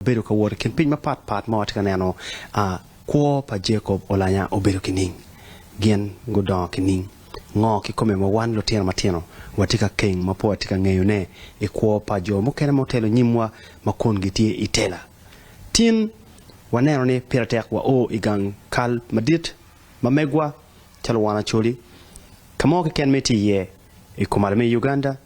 Bedo ka wot i kin piny mapat pat ma watye ka neno a kwo pa Jacob olanya obedo ki ning? Gin gudongo ki ning? Ngo kikome ma wan lutino matino watye ka keng ma pe watye ka ngeyone i kwo pa jo mukene ma otelo nyimwa ma kun gitye i tela? Tin, waneno ni pire tek wa o i gang kal madit ma megwa calo wan Acholi, ka mo keken ma itye iye i komalo me Uganda,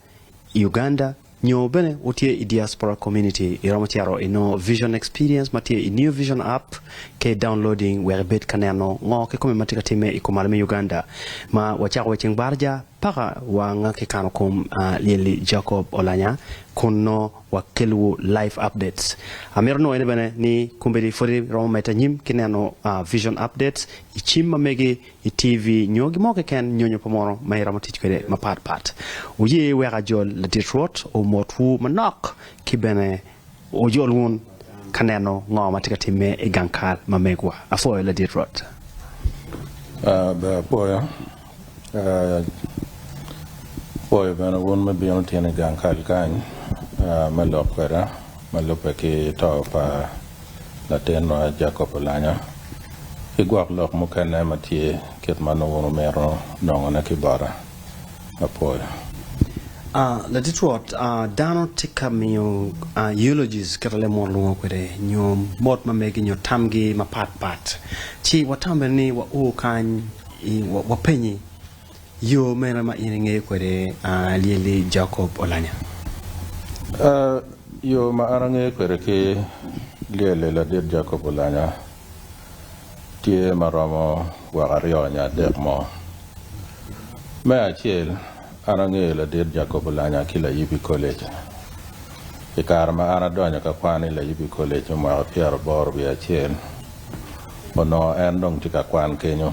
i Uganda nyo bene wutye i Diaspora Community, iromo cito i nongo Vision Experience ma tye i New Vision App ka i downloading wek ibed ka neno ngo kikome ma tye ka timme i kumalo me Uganda ma wacako wa i ceng barja paka wa nga ki kano kom Lyelli Jacob Olanya kun nongo wa kelliwu live updates. Amito nongo ene bene ni kombeddi pwod iromo medde anyim ki neno Vision Updates i cim ma megi. i TV nyo gin mo keken nyonyo pa mono ma iromo tic kwede mapat pat. Wuye wek ajol ladit Rwot omotwu manok ki bene ojol wun ka neno ngo ma tye ka timme i gang kal ma megwa. Apwoyo ladit Rwot. Ber apwoyo. Apwoyo bene wun me bino tin i gang kal kany me lok kweda ma lubbe ki to pa. latinwa Jacob Olanyo, ki gwok lok mukene ma tye kit ma nongo wumito nongone ki bota. Apwoyo. Ah, Latit Rwot, ah, dano tika miyo, ah, eulogies, kit ma lemot lwongo kwede, nyo mot ma megi, nyo tamgi mapat pat, ci watambe ni wao kany, i, wa, wapenyi. Yo mene ma in ingeyo kwede lyelli Jacob Olanya? Aa, yo ma an angeyo kwede ki lyelli ladit Jacob Olanya tye ma romo gwoko aryo nyo adek mo. Me acel, an angeyo ladit Jacob Olanya ki layibi college. I kare ma an adonyo ka kwan i layibi college me mwaka pyeraboro wiye acel, onongo en dong tye ka kwan kenyo.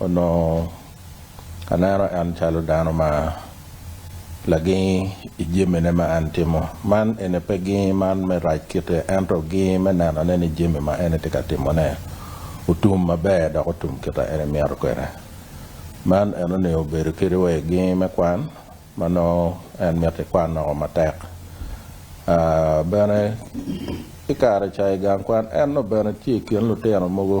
Onongo aneno en calo dano ma lagingi i jamine ma en timo. Man eni pe gingi man me rac kite, ento gingi me nenone ni jami ma en tye ka timone otum maber dok otum kit ma en emito kwede. Man eni onego obedo kadi wa i gingi me kwan ma nongo en mito ikwan woko matek. Bene, ki kare ca i gang kwan en nongo bene tye i kin lutino mogo,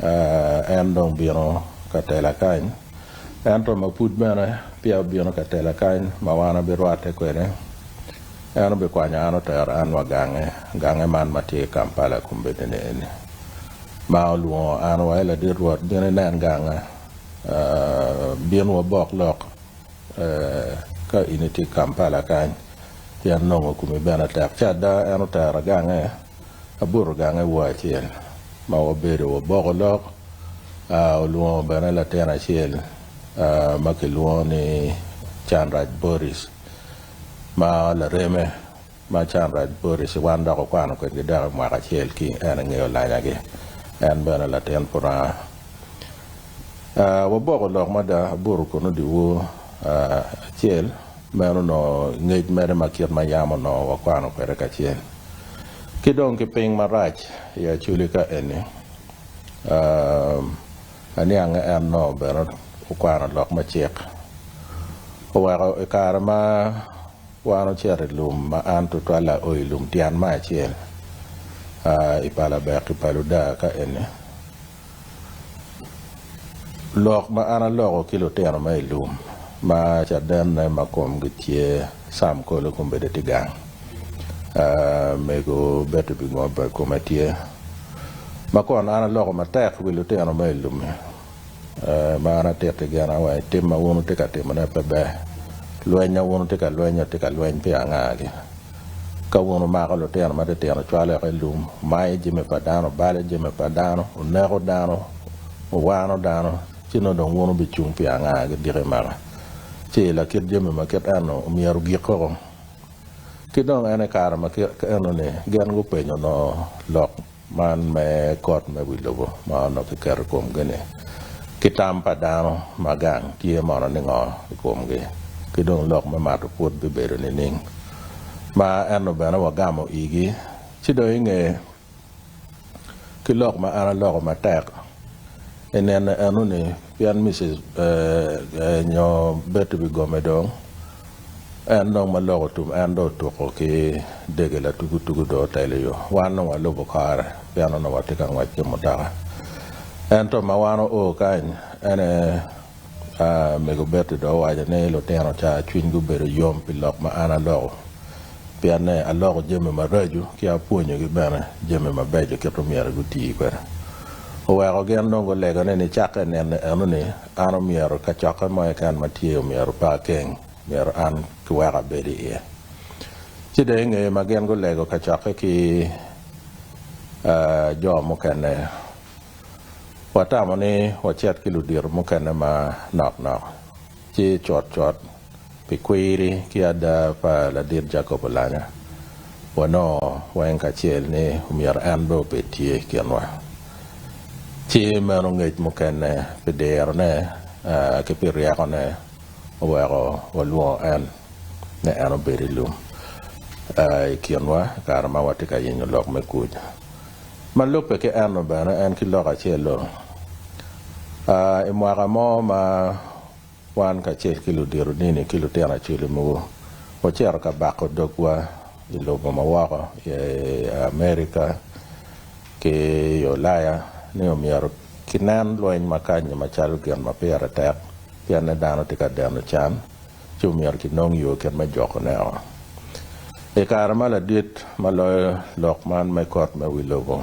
En dong bino ka tela kany. Ento ma pud bene peya obino ka tela kany ma wan abirwatte kwede, en obikwanyo an otero an wa gange, gange man ma tye i Kampala kombeddi-ni eni, ma olwongo an wa, 'Ee Ladit Rwot, bin inen ganga, bin wabok lok ka in itye i Kampala kany, pien nongo komi bene tek. Ci ada, en otera gange. Abuto gange wa acel ma wabedo waboko lok, olwongo bene latin acel ma kilwongo ni Canraj Boris ma lareme, ma Canraj Boris wan dok okwano kwedgi dako mwaka acel ki en i nge olanyagi, en bene latin Puranga. Waboko lok mada abuto kono dyewor acel, meno onongo ngec mere ma kit ma yam onongo wakwano kwede kacel. Ki dong ki piny marac i acoli ka eni, aniange en onongo bene okwano lok me cik. Oweko i kare ma wan ocito i lum ma an tutwal ao i lum tyen me acel i pa Labek i pa Luda ka eni, Lok ma an aloko ki lutino ma i lum ma cadenne ma komgi tye Sam Kole kong bedo tye gang. Mego Betty Bingobba kome tye. Ma kono an aloko matek wi lutino ma i lum-mi ma an atitti gena wang i tim ma wun wutye ka timone pe ber. Lweny ma wun wutye ka lwenyo tye ka lweny pi angagi. Ka wun wumako lutino matitino wucwalo yoka i lum, wumayo jami pa dano, wubalo jami pa dano, wuneko dano, wuwano dano, ci nongo dong wun wubicung pi anga ki diki i maka? Ci i lakit jami ma kit eno myero ogik koko. Ki dong en i kare ma kit eno-ni gin gupenyo onongo lok. Man me kot me wi lobo ma onongo kiketo i komgi-ni, ki tam pa dano ma gang tye mono ningo i komgi, ki dong lok me mato pwod bibedo nining? Ma ento bene wagamo igi, ci dong i nge ki lok ma an aloko matek, i nene eno-ni, Pien Mrs. nyo Betty bigome dong, en dong ma loko tum, en dong otuko ki dege latugu tugu dong otelo i yo. Wan dong walubo kore pien onongo watye ka ngwec ki mutoka. Ento ma wan oo kany, en aye mego Betty dong owaco ni, Lutino ca cwinygi obedo yom pi lok ma an aloko. pienne aloko jami maraco ki apwonyogi bene jami mabeco kit ma myero guti kwede. Oweko gin dong gulego ni nicakke i nino enoni, an omyero kacokke mo keken ma tye omyero pe akeng, myero an kiweko abed iye. Ci dong i nge ma gin gulego kacokke ki jo mukene, watamo ni wacit ki ludito mukene manok nok, ci cutcut Pi kwiri ki ada pa ladit Jacob Olanya, wanongo weng kacel ni omyero en bene obed tye i kinwa. Ci meno ngec mukene pi dirone ki pi ryekone oweko walwongo en ni en obed i lum i kinwa i kare ma watye ka yenyo lok me kuc. Ma lubbe ki eno bene, en ki lok acel-lu, i mwaka mo ma Wan kacel ki ludito dini ki lutino acwele mogo wacito ka bako dogwa i lobo ma woko i Amerika ki i Ulaya ni omyero kinen lweny ma kanyi macalo gin ma pire tek pienne dano tye ka deno can ci omyero kinong yo kit me jokone-o. I kare ma ladit ma loyo lok man me kot me wi lobo,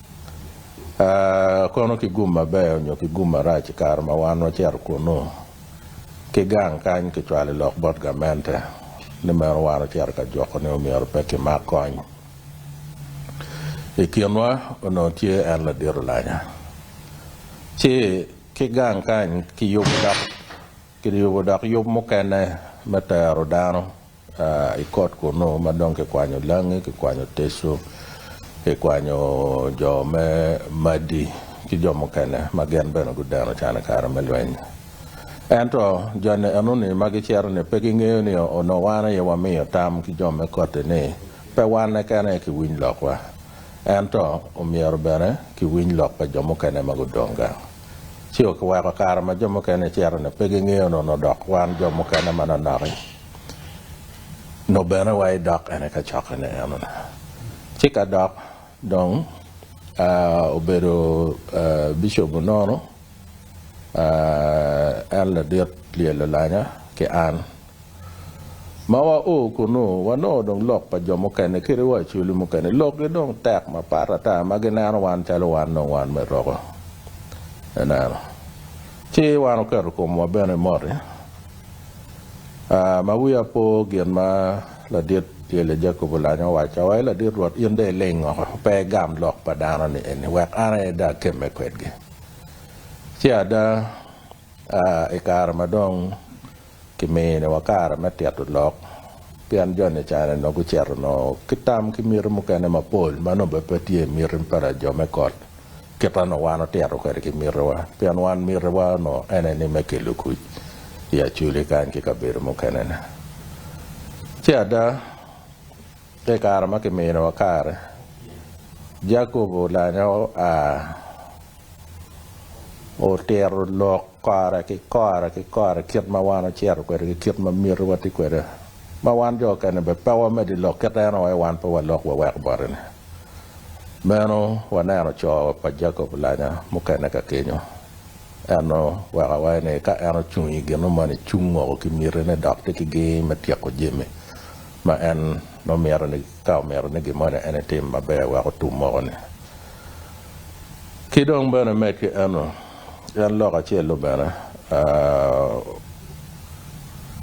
A Kono ki gum maber onyo ki gum marac i kare ma wan wacito kunnu? Ki gang kany kicwalo lok bot gamente ni meno wan ocito ka juko ni omyero pe kimak kony. I kinwa onongo tye en ladit olanya. Ci ki gang kany kiyubo dok kiyubo dok yub mukene me tero dano I kot kunnu ma dong kikwanyo langi, kikwanyo tecu, kikwanyo jo me Madi ki jo mukene ma gin bene gudeno can i kare me lweny. Ento, joni eno-ni ma gicito-ni pe gingeyo ni onongo wan aye wamiyo tam ki jo me kotti ni pe wan keken aye kiwiny lokwa, ento omyero bene kiwiny lok pa jo mukene ma gudong gang. Ci okiweko kare ma jo mukene gicito-ni pe gingeyo ni onongo dok wan jo mukene manonok-ki. nongo bene wa idok en i kacokene eno. Ci ka dok dong obedo bicop onono, en ladit lyel Olanya ki an. Ma wa o kunu, wanongo dong lok pa jo mukene kadi wa Acholi mukene lokgi dong tek mapat ata ma gineno wan calo wan dong wan me roko. Ineno? Ci wan oketo komwa bene i moti. Aa, ma wiya opo gin ma ladit Yelya Jacob olanyo owacca, Wa, ladit Rwot, in dong ileng woko, pe igam lok pa dano-ni eni, wek an aye dong akemme kwedgi. Ci ada, aa, i kare ma dong kimiyo-ni wa kare me tito lok, pien joni i careni nongo gucito nongo ki tam ki miti mukene mapol ma nongo bene pe tye i miti pa lajo me kot, Kit ma onongo wan otito kwede ki mitiwa, pien wan mitiwa onongo en aye ni me kelo kuc i Acoli kany ki kabedo mukene-ni. Ci ada, i kare ma kiminiwa kare, Jacob olanyo a, otito lok kora ki kora ki kora kit ma wan ocito kwede ki kit ma mitiwa tye kwede. ma wan jo okene bene pe wamed i lok kit en aye wan pe walok wawek bote-ni. Meno waneno co pa Jacob lanya mukene ka kenyo. En oweko aweya ni ka en ocung i gino moni cung ngoko ki mitine dok tye ki gir me tyeko jami ma en nongo mito ni ka omito ni gin moni en etim maber wek otum moko-ni. Ki dong bene med ki eno, en lok acel dong bene,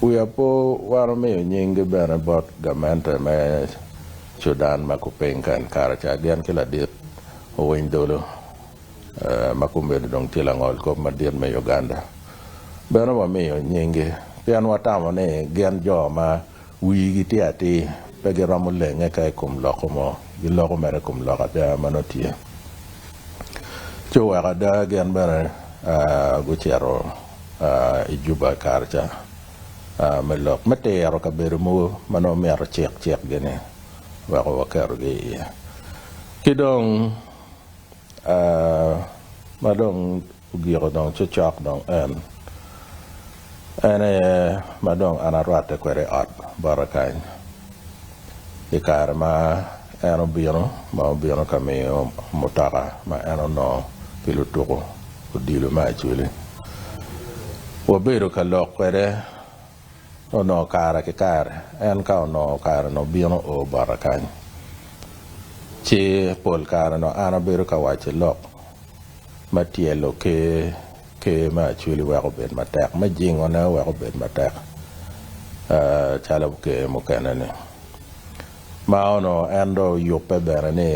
wiya pe wano miyo nyinggi bene bot gamente me Cudan ma kuping ka en kare ca gin ki ladit owiny dolo ma kumeno dong tye langol kop madit me Uganda. Bene wamiyo nyinggi pien watamo ni gin jo ma Wigi tye atir, pe giromo lenge ka i kom loko mo, giloko mere i kom lok ada ma nongo tye. Ci oweko ada gin bene gucito i Juba i kare ca me lok me tiro kabedo mogo ma nongo myero cik cikgi-ni weko waketogi iye. Ki dong ma dong Ogiko dong ci cok dong en, en aye ma dong an arwatte kwede i ot bota kany, i kare ma en obino ma obino ka miyo mutoka ma en onongo pi lutuku odilo me Acholi. Wabedo ka lok kwede Onongo kare ki kare en ka onongo kare nongo bino o bota kany, ci pol kare nongo an abedo ka waco lok me tyelo ker, ker me Acweli weko obed matek, me jingone weko obed matek calo ker mukene-ni. Ma onongo en dong oyubbe bene ni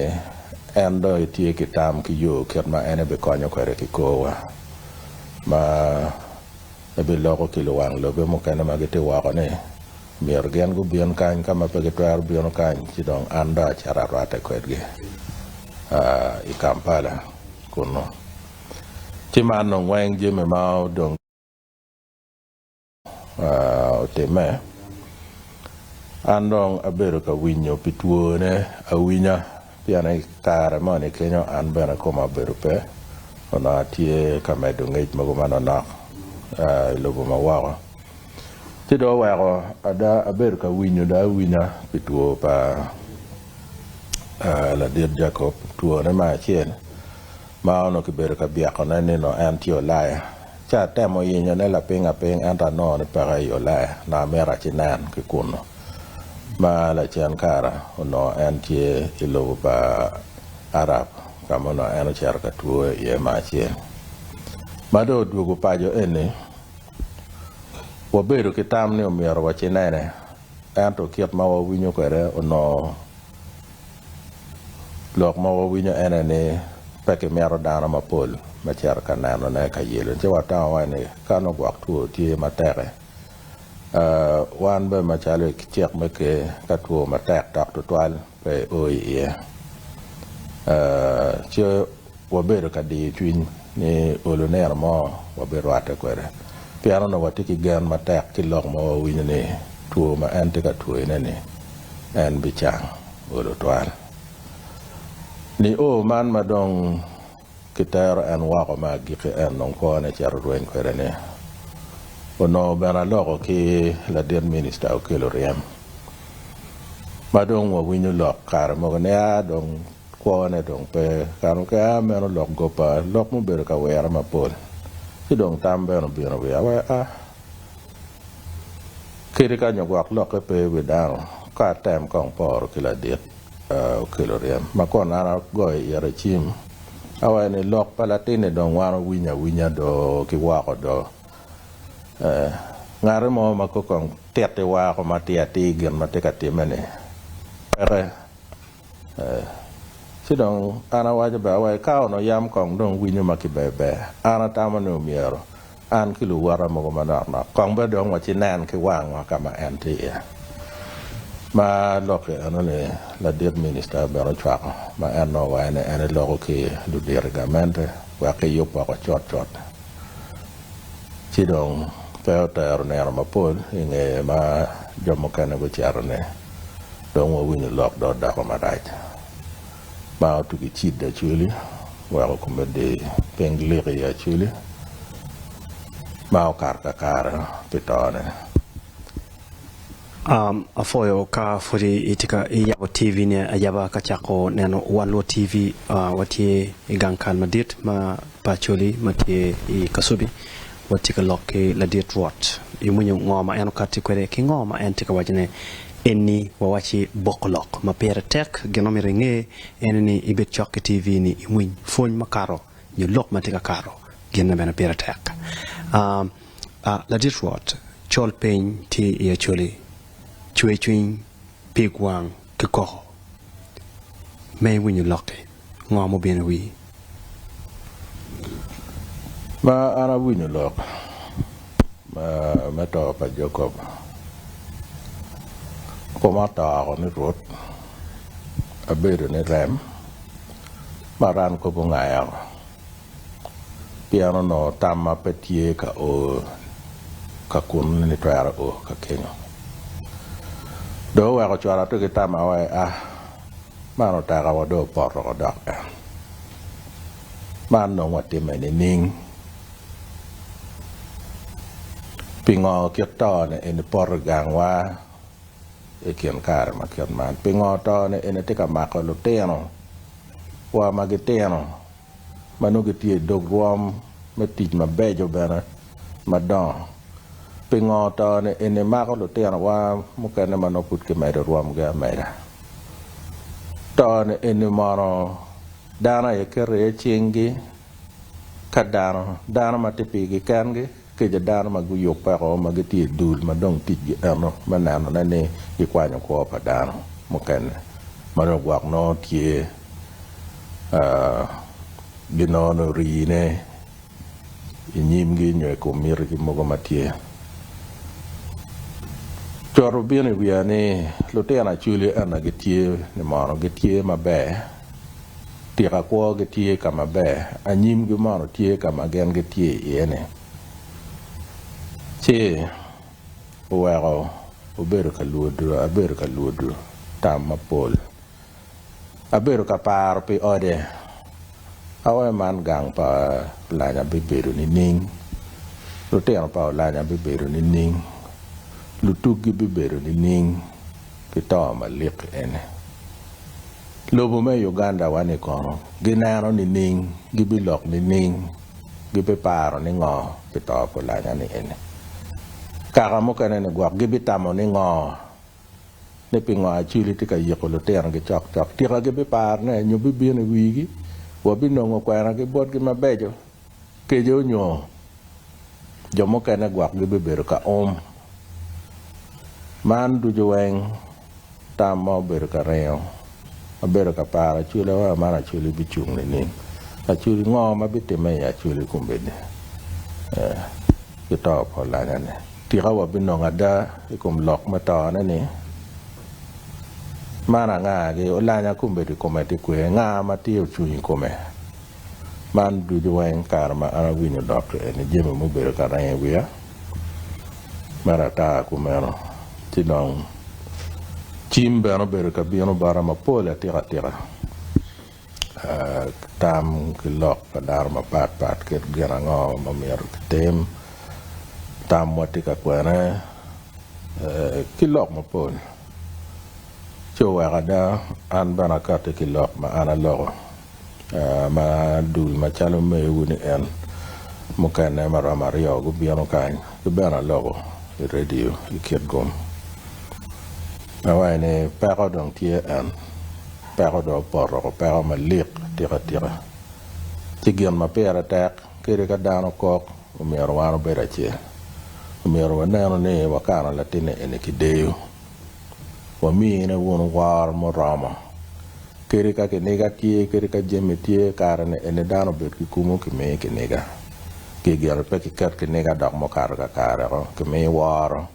en dong etye ki tam ki yo kit ma en ebikonyo kwede ki korwa ma, ebiloko ki luwang lobe mukene ma gitye woko ni, myero gin gubin kany, ka ma pe gitwero bino kany ci dong an dong acito arwatte kwedgi i Kampala kunnu. Ci man nongo weng jami ma dong otimme, an dong abedo ka winyo pi twone awinya. Pien i kare moni kenyo an bene koma obedo pe, onongo atye ka medo ngec mogo manonok i lobo ma woko. Ci dong oweko ada abedo ka winyo dong awinya pi two pa ladit Jacob, twone me acel. Ma onongo kibedo ka byekone ni nongo en tye Ulaya. Ci atemo yenyone lapiny apiny ento anongo ni peke i Ulaya, nongo amito aci nen ki kunnu. Ma lacen kare onongo en tye i lobo pa Arab ka ma onongo en ocito ka twoyo iye me acel. Ma dong odwogo paco eni, wabedo ki tam ni omyero wacinene, ento kit ma wawinyo kwede onongo. Lok ma wawinyo ene ni pe kimito dano mapol me cito ka nenone ka yelo ci watamo waci ni ka nongo gwok two tye matek-ki, wan bene macalo i cik me Ker, ka two matek dok tutwal pe i o iye, ci Wabedo ka diyo cwiny ni olo nino mo wabirwatte kwede pien onongo watye ki gen matek ki lok ma wawinyo ni two ma en tye ka twoyone-ni en bicang olo twal. Nio man ma dong kitero en woko me agikki en dong kwone cito rweny kwede-ni onongo bene aloko ki ladit minista okelo ryem ma dong wawinyo lok kare mogo nia dong Kwone dong pe kano ki aa meno lok goppa lok mubedo ka wira mapol, ci dong tam bene obino i wiya wek a kiti ka nyo gwok lokke pe i wi dano ka atem kong poro ki ladit okelo ryem ma kono an agoyo ite cim awaco ni lok pa latinni dong wan owinyo awinya do ki woko do ee ngati mo ma kong titi wako ma atir atir gin ma tye ka timme ni peke. Ee. Ci dong an awaco bene wa, Eka onongo yam kong dong winyo ma kiber ber. An atamo ni omyero an ki luwota mogo manok nok kong bene dong wacinen ki wangwa ka ma en tye iye. Ma lok-ki eno ni ladit minista bene ocwako ma en nongo wayo ni en eloko ki ludito i gamente wek kiyub woko cut cut. Ci dong pe otero nino mapol i ngeye ma jo mukene gucito ni dong wawinyo lok dot dako marac ma otye ki cid acwali, weko kome dir piny lik iye acwali ma okato kakare pi tone. Apwoyo ka pwod itye ka yabo TV ni ayaba ka cako neno wan luot TV. Watye i gang kal madit ma pa Acholi ma tye i Kasubi. watye ka lok ki ladit Rwot, iwinyo ngo ma en okatti kwede ki ngo ma en tye ka wacone enni wawacci boko lok ma pire tek? Gin ma myero inge ene ni ibed cok ki TV ni iwiny pwony ma kato nyo lok ma tye ka kato gin ma bene pire tek. A A ladit Rwot, col piny tye i Acholi, cwer cwiny, pig wang. ki koko me iwinyo lokki ngo mubino iwii. Ma an awinyo lok me to pa Jacob koma otoko ni Rwot abedo ni rem maran kobo ngayo. pien onongo tamma pe tye ka o ka kunnu ni nitwero o ka kenyo. Dong oweko cwara to ki tamma wa ea. Man oteka wa dong opoto wa dok en. Man dong watimme nining? Pingo kit to ni eni poto i gangwa i kin kare ma kit man? Pingo to ni eni tye ka mako lutino wa ma gitino ma nongo gitye i dog rwom me tic mabeco bene madongo. Pingo to ni eni mako lutinowa mukene ma nongo pud kimedo i rwomgi ameda? To ni eni mono dano aye keto iye cinggi ka dano, dano ma tye pigi kengi? Kica dano ma guyubeko ma gitye i dul ma dong ticgi eno me nenone ni gikwanyo kwo pa dano mukene ma dong gwok nongo tye ginongo rine i nyimgi nyo i kom mitigi mogo ma tye. Coto bino i wiya ni lutino Acholi ena gitye ni mono gitye maber Tika kwogi tye ka ma ber anyimgi mono tye ka ma gin gitye iye-ni? Ci oweko obedo ka lwodo, abedo ka lwodo tam mapol. Abedo ka paro pi ode. Aoe man gang pa Olanya bibedo nining? Lutino pa Olanya bibedo nining? Lutuggi bibedo nining ki to malik eni? Lobo me Uganda wa ni kono gineno nining? Gibilok nining? Gibiparo ni ngo pi to pa olanya ni eni? Kaka mukene ni gwok gibitamo ni ngo? Ni pingo Acwili tye ka yiko lutino gi cok cok? Tika gibiparo ne nyo bibino i wigi? Wabinongo kwena gi botgi mabeco? Kece onyo jo mukene gwok gibibedo ka um. Man ducu weng tam ma obedo ka ringo. Abedo ka paro acwila wa man acwili bicung nining? Acwili ngo ma bitimme i acwili kombeddi eh, ki to pa olanya ni? Tika wa binongo ada i kom lok me to ne ni? Man anga gi olanya kombeddi kome tye kwer? Nga ma tye ocung i kome? Man ducu weng kare ma an awinyo dok eni jami mubedo ka reny i wiya mere ata kumeno ci dong cim bene obedo ka bino bota mapol atika atika tam ki lok pa dano mapat pat kit gin ango ma myero kitim tam wa tye ka kwene ki lok mapol ci oweko ada an bene akati ki lok ma an aloko. ma dul macalo mewu ni en mukene ma romo aryo gubino kany ki bene aloko i radio i kit gum awaci ni peko dong tye en peko dong opoto woko peko malik atika tika ci gin ma pire tek kadi ka dano kok omyero wan obed acel omyero wanenu ni wakano latinne eni kideyo. wamine wunu woro muromo kadi ka kiniga tye kadi ka jami tye kare-ni eni dano obed ki kumo kimiyi kiniga pi gin ni pe kiket kiniga dok mukato kakareko kimiyi woro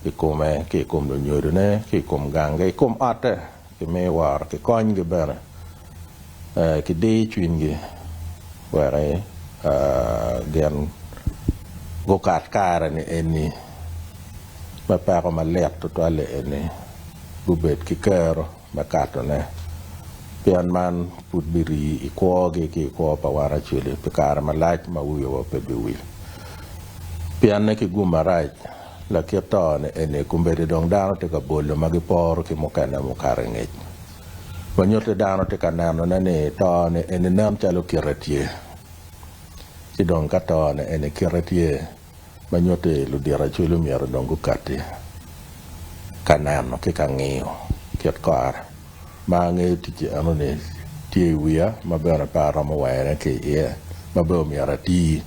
i kome ki i kom lunyodone ki i kom gange i kom otte. Kimi woro ki konygi bene ki dir cwinygi wek gin gukat kare ni eni me peko malit tutwal-li eni gubed ki kero me katone, pien man pud birii i kwogi ki i kwo pa wan acwili pi kare malac ma wiwa pe biwil pienne ki gum marac. Lakit tone eni kombeddi dong dano tye ka bolo ma giporo ki mukene mukato i ngec, ma nyutti dano tye ka nenone ni tone eni nen calo kite tye. Ci dong ka tone eni kite tye, ma nyutti ludito acwele omyero dong gukatti ka neno ki ka ngiyo kit kore. Ma angeyo ticci enoni tye i wiya, ma bene pe aromo weyone ki iye, ma bene omyero ati.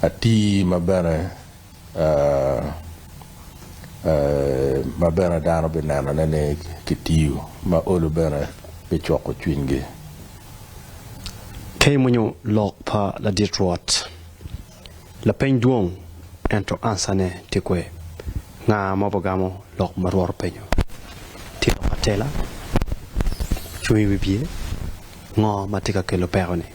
atii ma bene ma bene dano binenone ni kitii ma olo bene bicwoko cwinygi. Ka imwonyo lok pa ladit Rwot, lapeny dwong, ento ansane tye kwe. Nga ma obigamo lok ma Rwot openyo? Tye lok atela? Cung i wi pye? Ngo ma tye ka kelo peko-ni?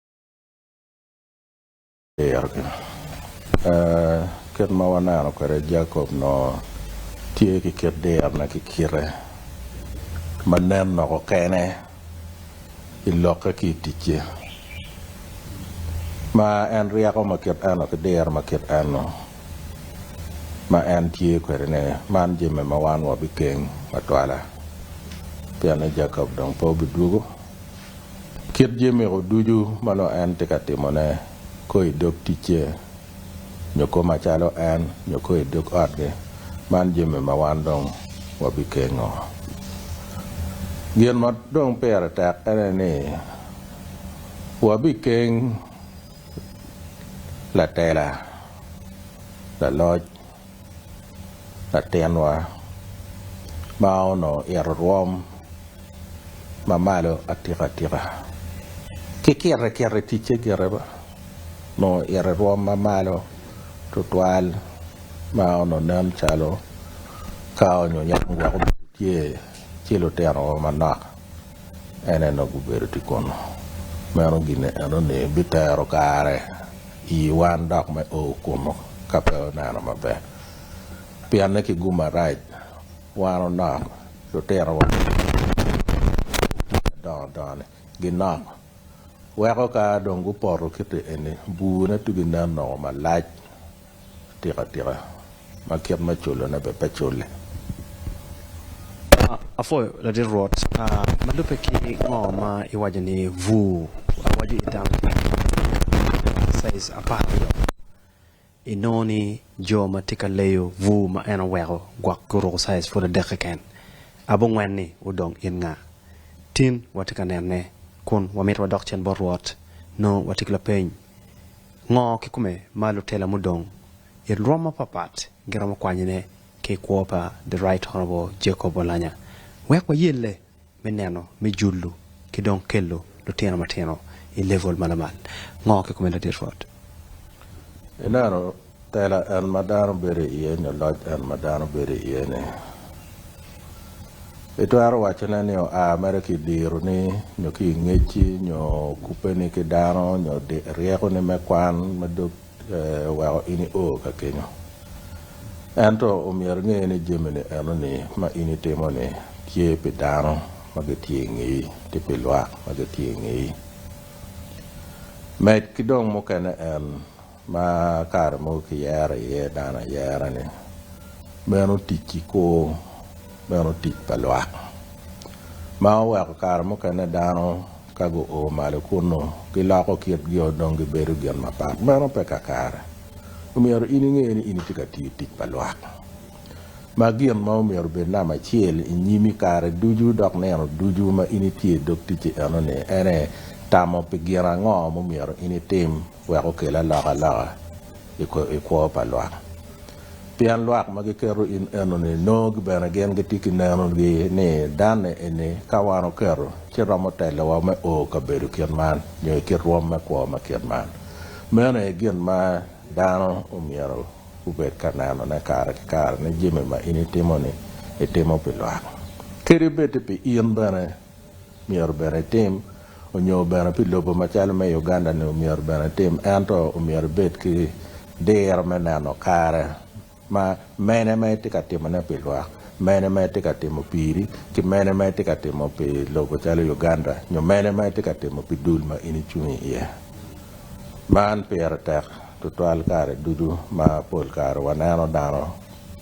Dirogi. Kit ma waneno kwede, Jacob onongo tye ki kit dirone ki kite ma nen loko kene i lokke ki i ticce. Ma en ryeko ma kit eno ki diro ma kit eno ma en tye kwede-ni, man jami ma wan wabikeng ma twala, pien ni Jacob dong pe obidwogo. Kit jemiko ducu ma nongo en tye ka timone, koo i dog ticce, nyo koo macalo en, nyo koo i dog otgi, man jami ma wan dong wabikengo. Gin ma dong pire tek ene ni, wabikeng latela, laloc. latinwa ma onongo ito rwom ma malo atikatika. Ki kite kite ticce gire ba onongo ito i rwom ma malo tutwal ma onongo nen calo ka onyo yam weko obedo tye ci lutino wa manok. En eno gubedo tye kunu. Meno gine eno-ni bitero kare i wan dok me o kunu ka pe oneno maber. Pianne ki gu marac, wan onok, lutinowa ki lutino dongo dongo-ni ginok. Weko ka dong gupoto kite eni, bur-ne tugi nen nongo malac. Atika tika ma kit me culone bene pe culle? Apwoyo Ladit Rwot. Ma lubbe ki ngo ma iwaco ni bur awaco i dano tye ki bur me kare ma caij apar aryo. Inongo ni jo ma tye ka leyo bur ma en oweko gwok guruko caij pud adek keken. Abongwen ni wu dong in nga? Tin watye ka nene kun wamito wadok cen bot Rwot nongo watye ki lapeny. Ngo kikome ma lutela mudong i lwom mapatpat giromo kwanyone ki i kwo pa The Right Honourable Jacob Olanya wek wayelle me neno me julu ki dong kelo lutino matino i level ma lamal? Ngo kikome ladit Rwot? Enaro. Tela en ma dano bedo i iye nyo loc en ma dano bedo i iye ni. I twero waco ne ni oa mere ki i diro ni nyo ki i ngecci nyo kupe ni ki dano nyo ryeko ni me kwan ma dog oweko in i o ka kenyo. Ento omyero inge ni jami ni eno ni ma in i timo ni tye pi dano ma gi tye i ngeyi ki pi lwak ma gi tye i ngeyi. Med ki dong mukene en. ma kare mogo kiyero iye dano ayera-ni, meno otic ki kor meno otic pa lwak, ma oweko kare mukene dano ka guo malo kunnu giloko kitgio dong gibedo gin mapat. Meno pe kakare. Omyero in inge ni in itye ka tiyo tic pa lwak, ma gin ma omyero obed namba acel i nyimi kare ducu dok nino ducu ma in itye i dog ticci eno-ni, ene tamo pi gin ango ma omyero in itim. wek okel alokaloka i kwo pa lwak. Pien lwak ma giketo in enoni nongo bene gin gitye ki nenogi ni danne eni ka wan oketo ci romo telowa me o kabedo kit man nyo i kit rwom me kwo ma kit man. Meno aye gin ma dano omyero gubed ka nenone kare ki kare ni jami ma in itimo-ni itimo pi lwak kadi bed-ti pi in bene. myero bene itim, onyo bene pi lobo macalo me Uganda ni omyero bene itim, ento omyero ibed ki diro me neno kare ma mene ma itye ka timone pi lwak, mene ma itye ka timo piri, ki mene ma itye ka timo pi lobo calo Uganda nyo mene ma itye ka timo pi dul ma in icung iye. Man pire tek tutwal kare ducu ma pol kare waneno dano.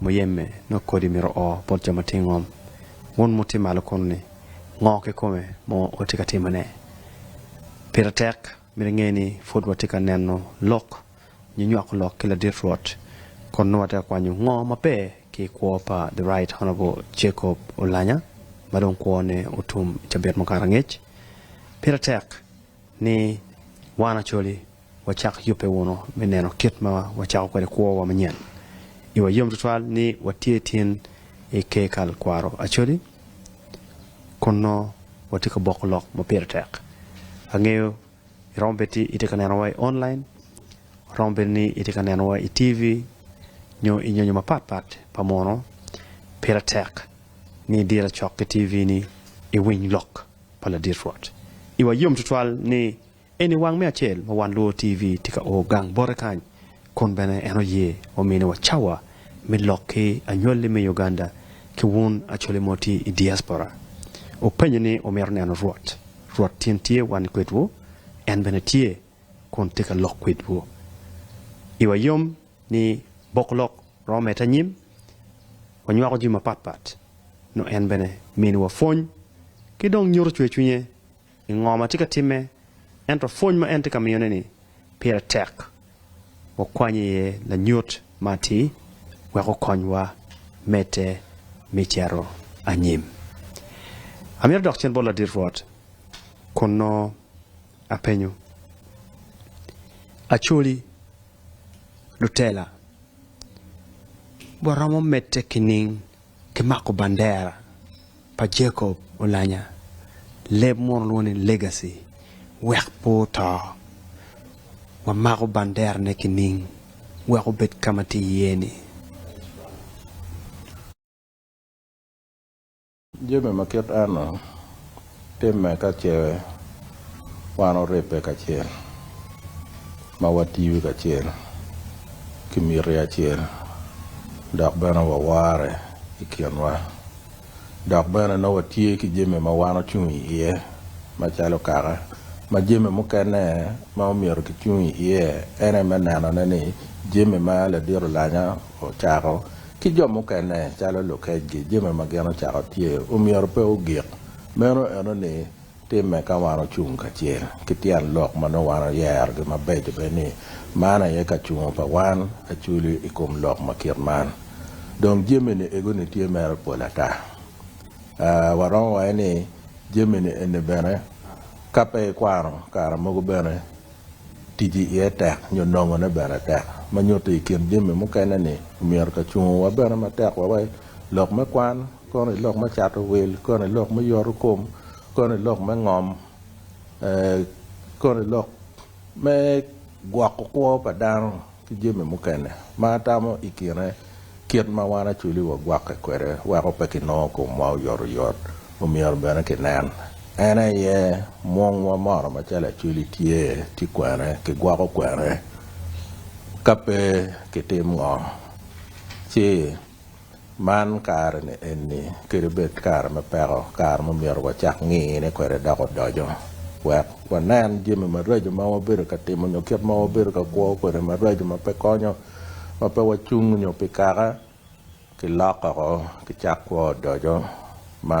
Muyeme nongo kodi myero o bot jo ma tye i ngom. Wun muti malo kunu-ni, ngo kikome ma watye ka timone? Pire tek myero inge ni pud watye ka neno lok nyo nywako lok ki ladit Rwot, kono nongo watye ka kwanyo ngo maber ki i kwo pa The Right Honourable Jacob Olanya ma dong kwone otum i cabit mukato angec. Pire tek ni wan Acholi, Wacak yubbe wunu me neno kit ma wacako kwede kwowa manyen. Iwa yom tutwal ni watye tin i ker kal kwaro Acholi, kun nongo watye ka boko lok ma pire tek. Angeyo iromo bedo ni itye ka nenowa i online, romo bedo ni itye ka nenowa i TV, nyo i nyonyo mapat pat pa muno. Pire tek ni idiro lacok ki TV-ni iwiny lok pa ladit Rwot. Iwa yom tutwal ni Eni wang me acel ma wan lwor TV tye ka o gang bote kany kun bene en oye omini wa cawa me lok ki anywali me Uganda ki wun Acholi mo tye i diaspora. Wupenyo ni wumito neno Rwot. Rwot tin tye wan kwedwu, en bene tye kun tye ka lok kwedwu. I wa yom ni bok lok romo mete anyim, wanywako jami mapat pat, nyo en bene miniwa pwony ki dong nyuto cwer cwinye. i ngo ma tye ka timme, ento pwony ma en tye ka miyone-ni pire tek. Wakwanye iye lanyut ma atir wek okonywa medde me cito anyim. Amito adok cen bot ladit Rwot kun nongo apenyo, 'Acholi, lutela, waromo medde kining Ki mako bandera pa Jacob olanya, leb muno lwongo ni legacy, wek pe oto. Wa mako bandera ne ki ning wek obed ka ma tye iye ni. Jami ma kit eno. Timme ka ce wan oribbe kacel ma watiyo kacel ki miti acel dok bene wawarre i kinwa. Dok bene nongo watye ki jami ma wan ocung iye macalo kaka ma jami mukene ma omyero kicung iye en aye me nenone ni jami ma ladit olanya ocako Ki jo mukene, calo lukecgi, jami ma gin ocako tye omyero pe ogik. Meno eno ni timme ka wan ocung kacel ki tyen lok ma nongo wan oyerogi mabeco bene ni man aye kacungo pa wan acwli i kom lok ma kit man. Dong jami-ni ego-ni tye mere pol ata. Aa, waromo waco ni jami-ni eni bene ka pe ikwano kare mogo bene. Ticci iye tek nyo nongone bene tek, ma nyuto i kin jami mukene ni omyero kacungowa bene matek wa wa i lok me kwan, kono i lok me cato wil, kono i lok me yoto kom, kono i lok me ngom, ee, kono i lok me gwoko kwo pa dano. ki jami mukene ma atamo i kine kit ma wan Acholi wagwakke kwede weko pe kinongo komwa oyot oyot, omyero bene kinen. En aye mwongwa mono macalo Acholi tye ci kwene kigwoko kwene ka pe kitim ngo ci. Man kare-ni eni kadi bed kare me peko, kare ma myero wacak ngine kwede dok odoco wek wanen jami maraco ma wabedo ka timo nyo kit ma wabedo ka kwo kwede maraco ma pe konyo, ma pe wacung nyo pi kaka kilok oko ki cak kwo odoco ma.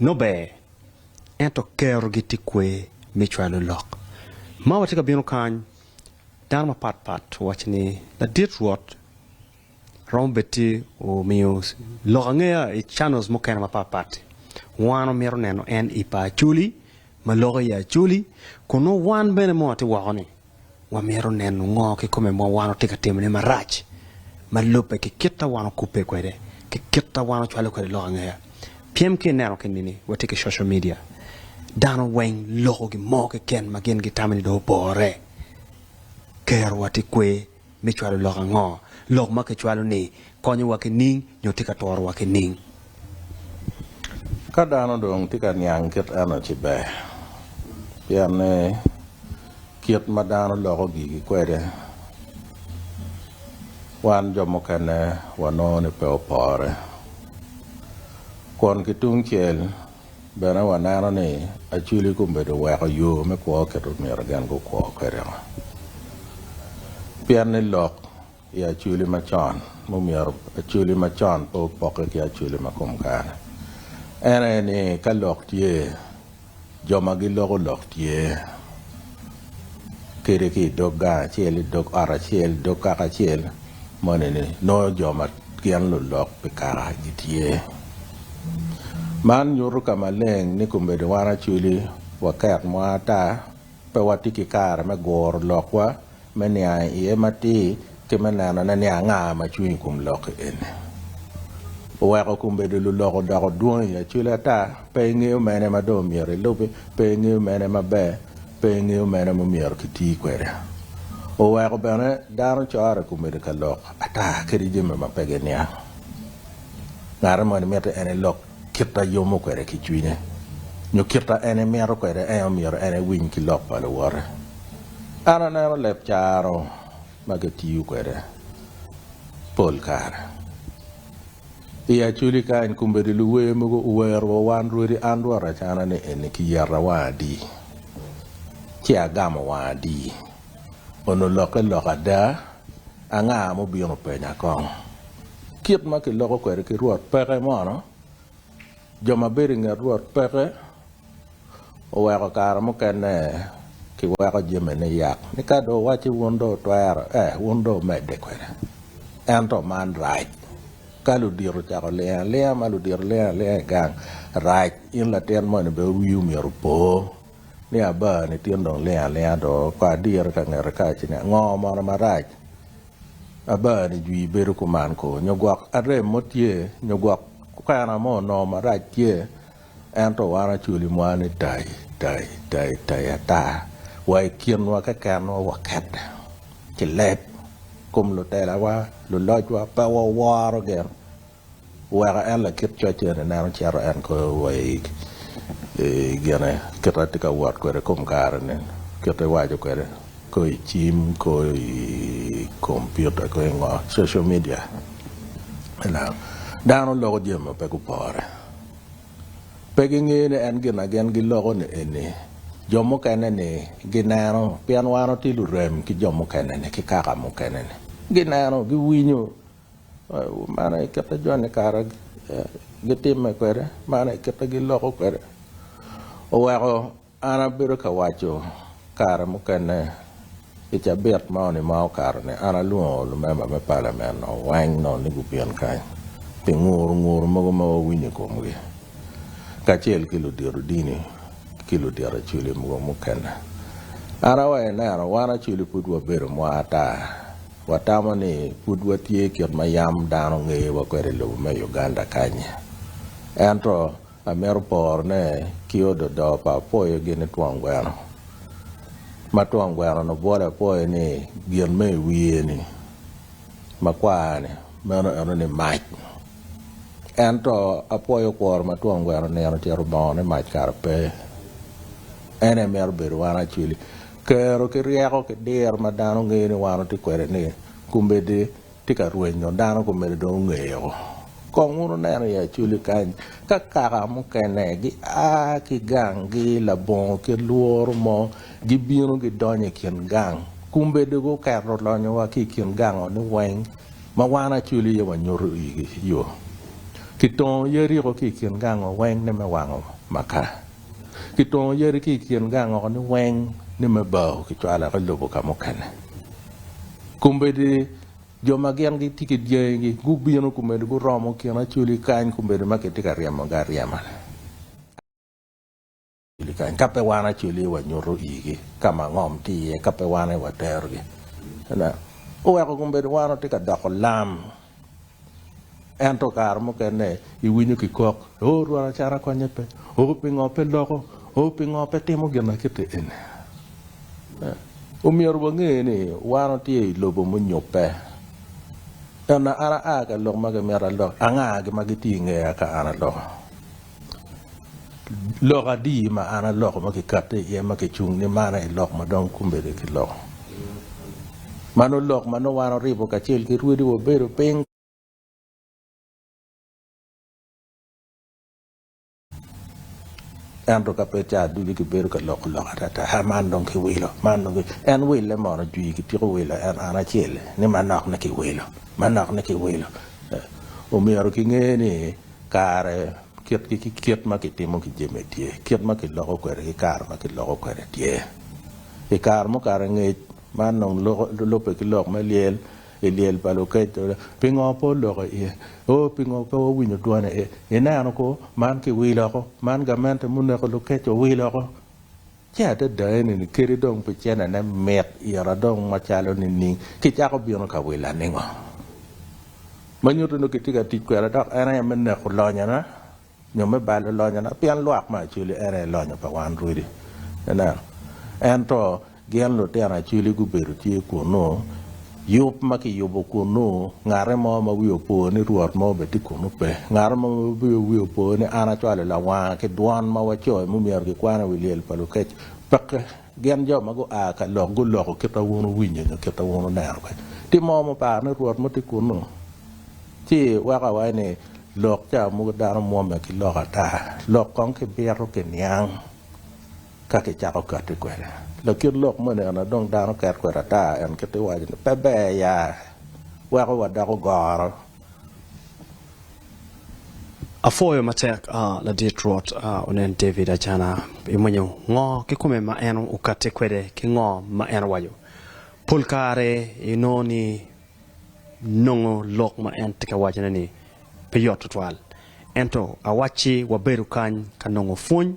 Nongo ber, ento kerogi tye kwer me cwalo lok. Ma watye ka bino kany, dano mapat pat owaco ni ladit Rwot romo bed ci omiyo lok angeya i channels mukene mapat pat. Wan wamito neno en i pa Acholi ma loko i Acholi, kun nongo wan bene mot atye woko ni. Wamito neno ngo kikome ma wan watye ka timone marac ma lubbe ki kit ma wan okubbe kwede ki kit ma wan ocwalo kwede lok angea? Pyem ki ineno keni ni watye ki social media, dano weng loko gin mo keken ma gin gitamo ni dong opore. Kerowa tye kwer. me cwalo lok ango? Lok ma kicwalo-ni konyowa ki nining, nyo tye ka torowa ki nining? Ka dano dong tye ka niang kit eno ci ber, pien ni kit ma dano loko gigi kwede, wan jo mukene wanongo ni pe opore. Kun ki tungcel, Bene waneno ni acwili kombeddi oweko yo me kwo kit ma myero gin gukwo kwede-ngo. Pien ni lok i acwili macon mumyero acwili macon pe opokke ki acwili ma kom kare. En aye ni ka lok tye, jo ma giloko lok tye. kede ki i dog gang acel, i dog ot acel, i dog kaka acel, moni ni nongo jo ma gin lulok pi kaka gitye. Man nyuto ka maleng ni kombeddi wan Acholi wakek mo ata pe watye ki kare me guro lokwa me niang iye matir Ti me neno ane ni anga ma cwiny i kom lokki eni oweko kun bedo lulok odoko dwong i acwili ata. Pe ingeyo mene ma dong myero ilubi, pe ingeyo mene maber, pe ingeyo mene ma myero kiti kwede. Oweko bene dano corre kun bedo ka lok ata kede jami ma pe giniang. Ngati moni miti en elok kit a yomo kwede ki cwinye, nyo kit a en emito kwede, ento myero en ewiny ki lok pa luwote. An aneno leb caro. ma kitiyo kwede pol kare i Acholi kany kombeddi luwer mogo owero wa wan rwodi an rwot acana ni eni kiyeta wang adi ci agamo wang adi onongo lokke lok ada anga mubino penya kong kit ma kiloko kwede ki rwot peke mono Jo ma bedo i nget Rwot peke oweko kare mukene kiweko jamine yat, ni ka dong owacci wun dong wutwero, eh, wun dong wumedde kwede. Ento man rac ka ludito ocako olingo alinga, ma ludito lingo alinga i gang. Rac in latin moni bene wiwu myero opo ni abaa-ni tin dong lingo alinga do, kor diri ka ngete ka ci ni, 'Ngo mono marac? Abani jwi bedo kuman ko nyo gwok arem mo tye nyo gwok kwena mo onongo marac tye ento wan Acholi mwa ni tayi tayi tayi tayi ata wa i kinwa kekenwa wakette ki leb kom lutelawa lulocwa pe waworo gin Weko en lakit coc eni ineno cito en koyo wa i gine kit ma tye ka wot kwede i kom kare ni, kit ma iwaco kwede koyo i cim, koyo i kompiuta, koyo i ngo, social media ineno. Dano loko jami ma pe gupore, pe gingeyo ni en gin ma gin giloko ni eni jo mukene ni gineno pien wan watye lurem ki jo mukene ni ki kaka mukene ni gineno, giwinyo. Man aye kit ma joni i kare gitimme kwede, man aye kit ma giloko kwede. Oweko an abedo ka waco kare mukene i cabit moni ma okato ni an alwongo lumemba me palamen-nu weng nongo ni gubin kany pi nguru nguru mogo ma wawinyo i komgi kacel ki ludito dini ki ludito Acoli mogo mukene. An aye ineno wan Acoli pud wabedo mwaa ata. Watamo ni pud watye kit ma yam dano ngeyowa kwede i lobo me Uganda kany-nyi. Ento amito porone ki ododo pa apoyo gini twon gweno. Ma twon gweno-ni obwolo apoyo ni gin ma i wiye-ni, makwar-ni, meno eno ni mac. Ento apoyo okworo ma twon gweno nino ocito obongo ni mac kara pe. En aye mito bedo wan acwili. Kero ki ryeko ki diro ma dano ngeyo ni wan watye kwede ni komedi tye ka rwenyo dano komedi dong ongeyoo. Kong wun wuneno i Acholi kany ka kaka mukene gia ki ganggi labongo kit lworo mo gibino gidonyo i kin gang komedi guketo lonyo wa ki i kin gang oni weng ma wan Acholi aye wanyuto igi yoo. Kitongo Yeriko ki i kin gang wa weng ni me wango makaa. Kitongo yadi ki i kin gang oko-ni weng ni me bao, kicwalo woko i lobo ka mukene. Kombeddi jo ma gin gitye ki dyangigi gubino kombeddi guromo kin Acholi kany kombeddi ma kitye ka ryemogi aryema-ni. Ka pe wan Acholi wanyuto igi ka ma ngom tye iye, ka pe wan aye waterogi, oweko kombeddi wan watye ka doko lam. Ento kare mukene iwinyo kikok, 'Oo Rwot acata konye pe? Oo pingo pe loko? Oo pingo pe timo ginakite eni? Omyero wange ni wan watye i lobo munyobbe. Ento an aa ka lok ma kimito alok, anga gin ma gitye i ngeya ka an aloko? Lok adi ma an aloko ma kikatti iye ma kicung ni man aye lok ma dong kombeddi kiloko? Mano lok ma nongo wan oribo kacel ki rwodi wabedo piny. Ento ka pe ca ducu kibedo ka loko lok atata, ha man dong kiwilo, man dong kiwilo. En wille mono jwi kityeko wilo en an acel ni manok ni kiwilo, manok ni kiwilo. Omyero kinge ni. Kare kitgi ki kit ma kitimo ki jami tye, kit ma kiloko kwede ki kare ma kiloko kwede tye. I kare mukato angec, man dong lubbe ki lok me lyel i lyel pa Lukricito, pingo pe oloko iye? O, pingo pe wawinyo dwone? Ineno ko, man kiwil oko, man gamente muneko Lukricito owil oko. Ci adada enini kadi dong pi cene ne mit ira dong macalo nining? Ki cako bino ka wila ningo? Ma nyuto ni kitye ka tic kweda dok en aye me neko lonyo na, nyo me balo lonyo na, pien lwak me Acwili en aye lonyo pa wan rwodi. Ineno? Ento gin lutino Acwili gubedo tye kunnu. Yub ma kiyubo kunnu, ngate mo ma wiye opo ni Rwot mo bene tye kunnu pe. Ngate mo ma bibino wiye opo ni an acwalo lawanga ki dwon ma wacoyo ma omyero gikwano i wi lyel pa lukec. Peke! Gin jo ma gua ka lok guloko kit ma wun wuwinyo nyo kit ma wun wuneno kany. Tye mo ma oparo ni Rwot mo tye kunnu? Ci weko awaci ni, Lok ca mogo dano mwomme ki lok ata, lok kong ki bito ki niang. Ka kicako katti kwede lakit lok moni eno, dong dano ket kwede ata. En kit i waco ni, Pe ber ya! Weko wadoko goro. Apwoyo matek ladit Rwot onen David acana. Imwonyo ngo kikome ma en okatti kwede ki ngo ma en owaco? Pol kare inongo ni nongo lok ma en tye ka wacone ni pe yot twatwal. Ento awacci wabedo kany ka nongo pwony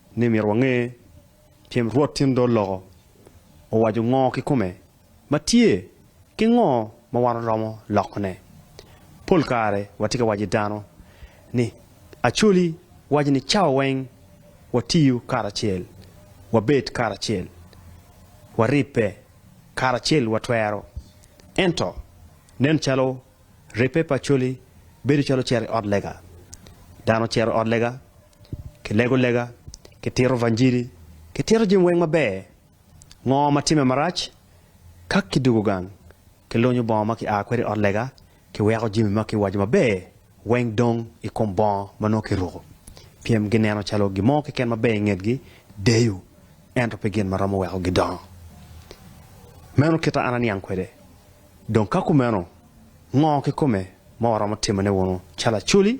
ni myero wange cen Rwot tyen dol loko owaco ngo kikome ma tye ki ngo ma wan waromo lokone. Pol kare watye ka waco i dano ni Acholi waco ni cawa weng watiyo karacel, wabed karacel, waribbe karacel watwero. Ento nen calo ribbe pa Acholi bedo calo cito i ot lega. Dano cito i ot lega Kilego lega, kitito vanjili, kitito jami weng maber. Ngo ma timme marac? Ka kidugo gang, kilunyo bongo ma kia kwede i ot lega, kiweko jami ma kiwaco maber weng dong i kom bongo ma nongo kiruko. Pyem gineno calo gin mo keken maber i ngetgi deyo, ento pe gin ma romo weko gidongo. Meno kit a an aniang kwede. Dong ka kumeno, ngo kikome ma waromo timone wunu calo acoli?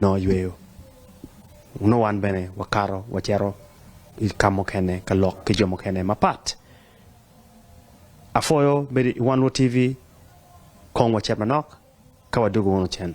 nongo yweyo nongo wan bene wakato wacito i ka mukene ka lok ki jo mukene mapat. Apwoyo bedo i One World TV kong wacit manok ka wadwogo wunu cen.